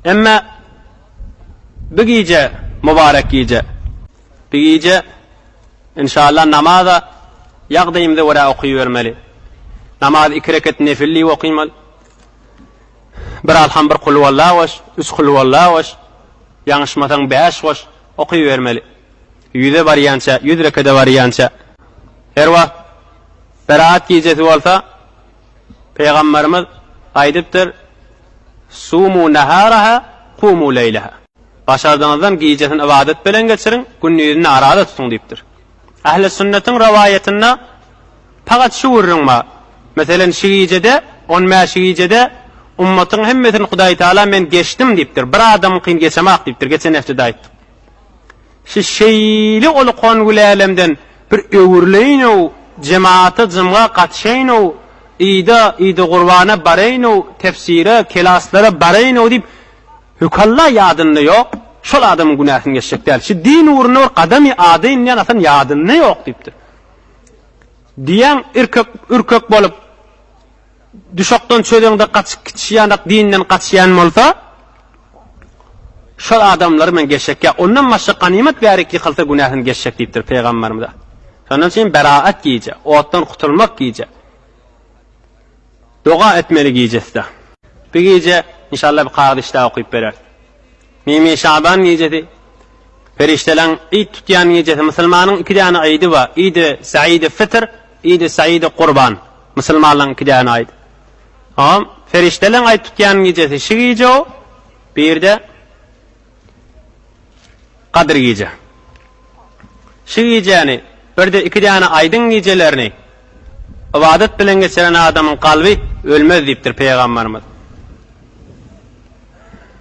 Emma bu gije, mubarek gije, bu gije inşallah namaza ýagdaýymyza görä okybermeli. Namaz iki reket nefil diýip okymaly. Bir alham bir kulhuwalla goş, üç kulhuwalla goş, ýaňyşmasaň bäş goş okybermeli. Ýüze barýança, ýüz rekede barýança. Her wagt Berat gijesi bolsa, Pygamberimiz aýdypdyr, Sumu naharaha kumu leýleha. Başardygyňyzdan gijesini ybadat bilen geçiriň, gündizini arada tutuň diýipdir. Ähli sünnetiň rowaýatynda pagat şu gürrüň bar, Meselen, şu gijede, on bäş gijede ummatyň hemmesini Hudaýtagala men geçdim diýipdir, bir adamyňkyny geçemok diýipdir, geçen hepdede aýtdyk. Siz şeýle ulukan gülälemden bir öwrüleýin-ow, jemata, jymga gatyşaýyn-ow, yda, ydygurbana baraýyn-ow, tefsire, kelaslara baraýyn-ow diýip, hökalla ýadynda ýok, şol adamyň günäsini geçjek däl. Şu din ugrunda bir gadam adaýyn diýen atam ýadynda ýok diýipdir. Diýýän, irkek, ürkek bolup. Düşekden çözeňde gaçyp gitişi ýanak dinden gaçýan bolsa şol adamlary men geçek ýa ondan başga ganymat bärik ýykylsa günäsini geçjek diýipdir Peýgamberimize. Şondan üçin beraat gije, otdan gutulmak gije. Doga etmeli gijesde. Bir gije inşallah bir kagyz işläp okyp bereris. Mimi Şaban gijesi, Perişdeleň Id tutýan gijesi, musulmanyň iki däne Idi bar, Idi Saidi Fitr, Idi Saidi Gurban, musulmanlaryň iki däne Aýdy. Hom, Perişdeleň Aýt tutýan gijesi şi gije o, birde Gadyr gije. Şi gijäni, birde iki däne Aýdyň gijelerini ybadat bilen geçiren adamyň kalby ölmez diýipdir Peýgamberimiz.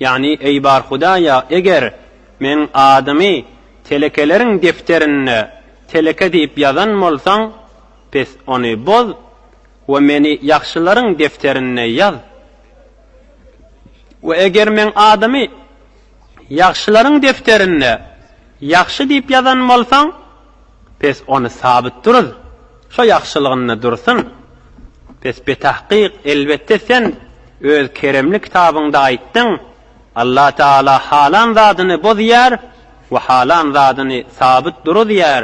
Ýagny, Eý, Barhudaýa, eger Meň adymy telekeleriň defterinde teleke diýip ýazan bolsaň, pes ony boz we Meni ýagşylaryň defterinde ýaz. We eger Meň adymy ýagşylaryň defterinde ýagşy diýip ýazan bolsaň, Pes ony sabyt duruz, şo ýagşylygynda dursun. Pes betahkyk, elbetde sen öz keremli kitabyňda aýtdyň, Allah Taala halan zadyny bozýar we halan zadyny sabyt duruzýar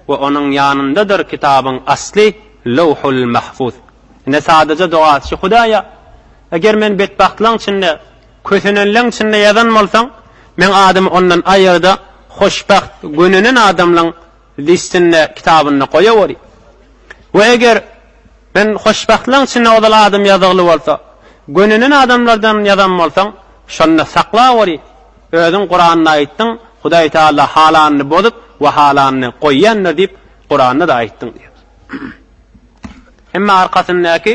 we onuň ýanyndadyr kitabyň asly Lowhul Mahfuz. Ine sadaja dogaçy Hudaýa, eger men betbagtlygyň içinde Kösenenleň içinde ýazan bolsaň, meň adymy ondan aýyrda hoşbagt gönenen adamlaň listinde, kitabynda goýaweri. We eger men hoşbagtlaň içinde ozal adym ýazygly bolsa, gönenen adamlardan ýazan bolsaň, şonda saklaweri. Özüň Kuranda aýtdyň, Hudaý Taala halanyny bozup we halanyny goýýandyr diýip Kuranda-da aýtdyň diýýär. Emma arkasyndaky.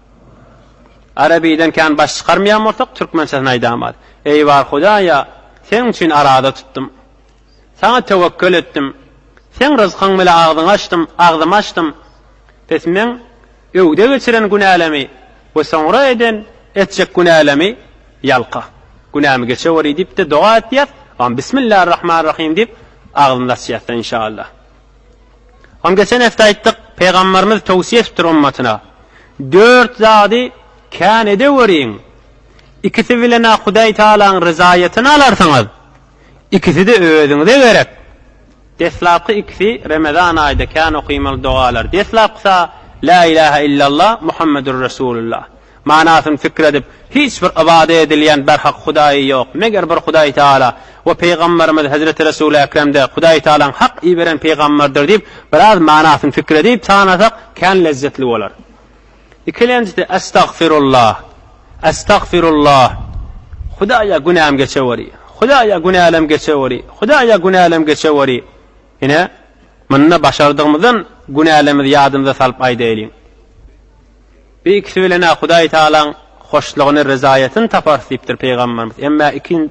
Arabiden kän baş çykarmaýan bolsak, türkmençesini aýdamaz. Eý bar Hudaýa, Seň üçin arada tutdum. Saňa töwekgel etdim. Seň ryzkyň bile agzyňy açdym, agzymy açdym. Pes meň öwde geçiren günälemi we soňra eden, etjek günälemi ýalka. Günämi geçeweri diýip-de doga etýäs, Bismillarrahmanrahym diýip, agzymyzy açýas-da, inşaallah. Oň geçen hepde aýtdyk, Pygamberimiz towsiýe etipdir ummatyna, Dört zady kän edeweriň, ikisi bilen-ä Hudaý Tagalaň ryzaýatyny alarsyňyz, ikisi-de özüňize gerek. Deslapky ikisi Remezan aýda kän okaýmaly dogalar. Deslapkysy-a, Lä ilahe illallah, Muhammedür resulullah. Manasyny pikir edip, hiç bir ybada edilýän berhak Hudaýy ýok, meger bir Hudaý Taala we Pygamberimiz Hezreti Resul-i Ekrem-de Hudaý Taalaň hak iberen pygamberdir diýip, biraz manasyny pikir edip tanasak, kän lezzetli bolar. Ikilenjisi, Estagfirullah! Estagfirullah! Hudaýa günäm geçeweri! Hudaýa günälem geçeweri! Hudaýa günälem geçeweri! Ine, munda başardygymyzdan günälemizi ýadymyza salyp aýdaýlyň. Bu ikisi bilen-ä Hudaý Tagalaň hoşlugyny, ryzaýatyny taparys diýipdir pygamberimiz. Emma ikin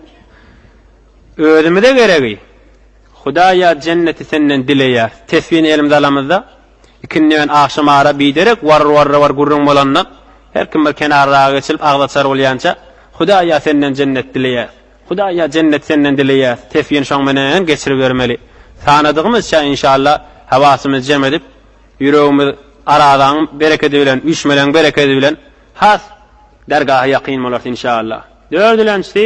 özümize geregi, Hudaý ýa Jenneti senden dileýäris. Tesbini elimize alamyzda, ikindi bilen agşam ara biderek warr-warr-warr gürrüň bolanda, her kim bir kenarraga geçilip agzaçar bolýança, Hudaý ýa senden Jennet dileýäris. Hudaý ýa Jenneti senden dileýäris. Tesbini şoň menen geçiribermeli. Sanadygymyzça, inşallah, hawasymyzy jem edip, Ýüregimiz Arazaň berekedi bilen, üýşmeleň berekedi bilen has dergaha ýakyn bolarys inşaallah. Dördülenjisi,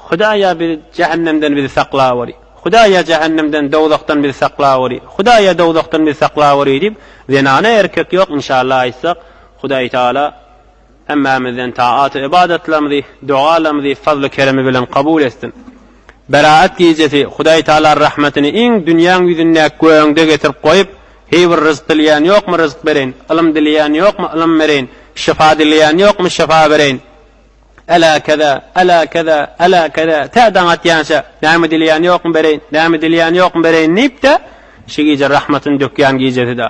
Hudaý ýa bizi jähennemden bizi saklaweri, Hudaý ýa jähennemden, dowzahdan bizi saklaweri, Hudaý ýa dowzahdan bizi saklaweri diýip, zenana erkek ýok inşaallah aýtsak, Hudaý Taala, Hemmämizden tagat-u ybadatlarymyzy, dogalarymyzy fazly-keremi bilen kabul etsin. Beraat gijesi Hudaý Tagala rahmetini iň dünýäň ýüzündäki göeňde getirip goýup, heý bir ryzk dileýän ýokmy ryzk bereýin, ylym dileýän ýokmy ylym bereýin, şyfa dileýän ýokmy şyfa bereýin, älä keza, älä keza, älä keza, tä daň atýança, näme dileýän ýokmy bereýin, näme dileýän ýokmy bereýin diýip-de, şu gije rahmetini dökýän gijesi-da.